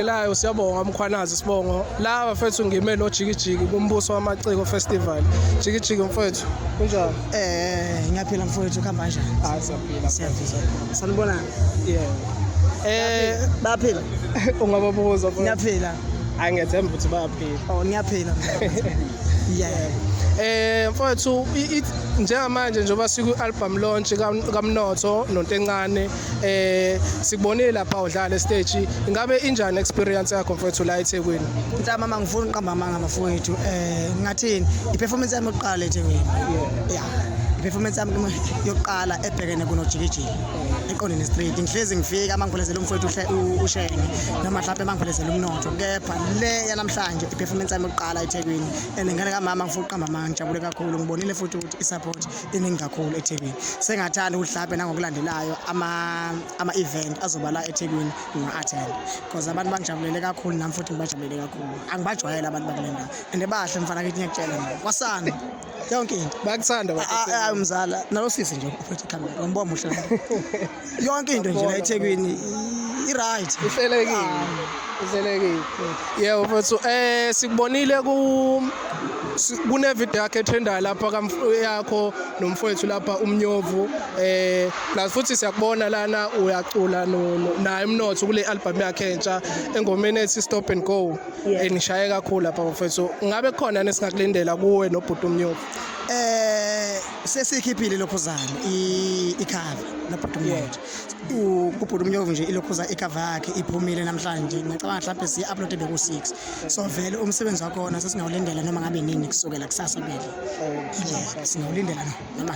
Ngelayo siyabonga umkhwanazi sibongo la bafethu ngime lo jikijiki kumbuso wamaciko festival jikijiki mfethu kunjani eh ngiyaphila mfowethu kuhamba kanjani hayi siyaphila siyaphila sanibona yeah eh baphila ungababuza mfowethu ngiyaphila hayi ngethemba ukuthi bayaphila oh ngiyaphila yeah eh mfowethu i- i- njengamanje njengoba siku-album launch kam- kamnotho nontencane eh sikubonile lapha udlala stage ingabe injani experience yakho mfowethu la eThekwini cha mama ngifuna uqamba amanga mfowethu eh ngathini iperformance yami yokuqala eThekwini yeah performance yami yokuqala ebhekene kunojikijiki eqondeni straight ngihlezi ngifika uma ngiphelezela umfowethu ushenge noma mhlawumbe uma ngiphelezela umnotho kepha le yanamhlanje iperformance yami yokuqala ethekwini and ngane kamama ngifuna ukuqamba amanga ngijabule kakhulu ngibonile futhi ukuthi isupport iningi kakhulu eThekwini sengathanda ukuthi mhlawumbe nangokulandelayo ama-event azoba la eThekwini nginga-attend because abantu bangijabulele kakhulu nami futhi ngibajabulele kakhulu angibajwayele abantu bakule ndawo and bahle mfana kithi ngiyakutshela mina kwasana yonke into bakuthanda umzala nalosisi nje uphethe ikhamera umbobo muhle yonke into nje la eThekwini i-right ihlelekile ah. ihlelekile yebo mfethu eh sikubonile ku kunevideo yakhe etrendayo lapha yakho nomfowethu lapha umnyovu eh plus futhi siyakubona lana uyacula naye umnotho kule album yakhe entsha engomeni ethi stop and go enishaye kakhulu lapha mfowethu ngabe khona nesingakulindela kuwe nobhuti umnyovu eh sesikhiphile ilokhuzane ikhava nobhuti umnyovu kubhuti umnyovu nje ilokhuza ikhava yakhe iphumile namhlanje ngicabanga mhlawumbe siyi-uploade beku-six so vele umsebenzi wakhona sesingawulindela noma ngabe nini kusukela kusasa vele singawulindela noma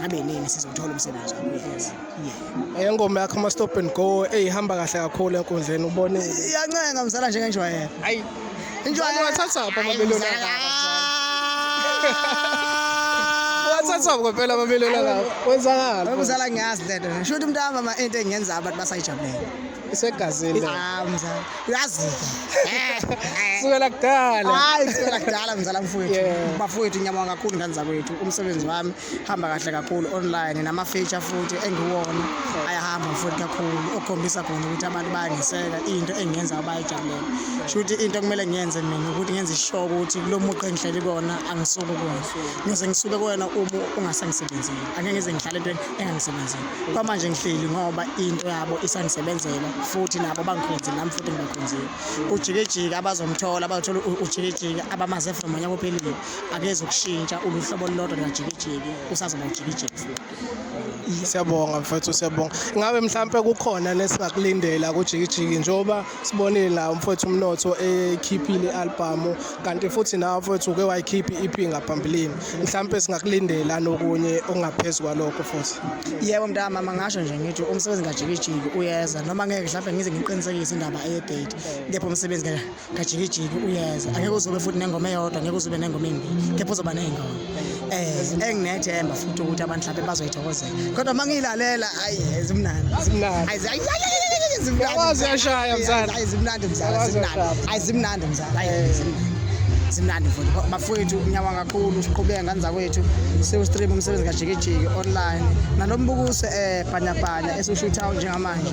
ngabe nini sizothola umsebenzi wakho Eyo ngoma yakho ama stop and go eyihamba kahle kakhulu enkundleni ubone. Iyancenga mzala nje ngenjwayelo. Hayi. Injwayelo wathatha apha amabelo lakho. Wathatha apha phela amabelo lakho. Wenzakala. Mzala ngiyazi lento. Sho ukuthi mntama ama into engenza abantu basayijabulele. Isegazini. Ah mzala. Uyazi. Eh. Sukela kudala. Hayi sukela kudala mzala mfowethu. Bafowethu ngiyabonga kakhulu ngane zakwethu umsebenzi wami. hamba kahle kakhulu online nama-feature futhi engiwona ayahamba futhi kakhulu okukhombisa khona ukuthi abantu bayangiseka into engiyenza abayijabulela sho ukuthi into okumele ngiyenze mina ukuthi ngenze ishow ukuthi kulo muqo engihleli kona angisuke kona ngise ngisuke kuwena uma ungasangisebenzeli angeke ngize ngihlale entweni engangisebenzeli kwamanje ngihleli ngoba into yabo isangisebenzela futhi nabo bangikhonzile nami futhi ngibakhonzile ujikejike abazomthola bazothola ujikejike abamaze from onyaka ophelile akezokushintsha uluhlobo olulodwa lukajikijiki usazoba ujikijiki futhi siyabonga mfethu siyabonga ngabe mhlampe kukhona nesingakulindela kujikijiki njengoba sibonile la umfethu umnotho ekhiphile i-album kanti futhi nawe mfethu uke wayikhipha i-EP ngaphambilini mhlampe singakulindela nokunye okungaphezu kwalokho futhi yebo mntama mangasho nje ngithi umsebenzi kajikijiki uyeza noma ngeke mhlampe ngize ngiqinisekise indaba eye-date kepha umsebenzi kajikijiki uyeza angeke uzobe futhi nengoma eyodwa ngeke uzobe nengoma eyimbili kepha uzoba ney'ngoma um eh, enginethemba futhi ukuthi abantu mhlawumbe bazoyithokozela kodwa uma ngiyilalela ayi zimnandi zimnandi mzalazimnandi mzala simnandi futhi bafowethu nyawa kakhulu siqhubeke ngane zakwethu siwustream umsebenzi kajikijiki online nalo mbukuso um eh, bhanyabhanya esiwushuthayo njengamanje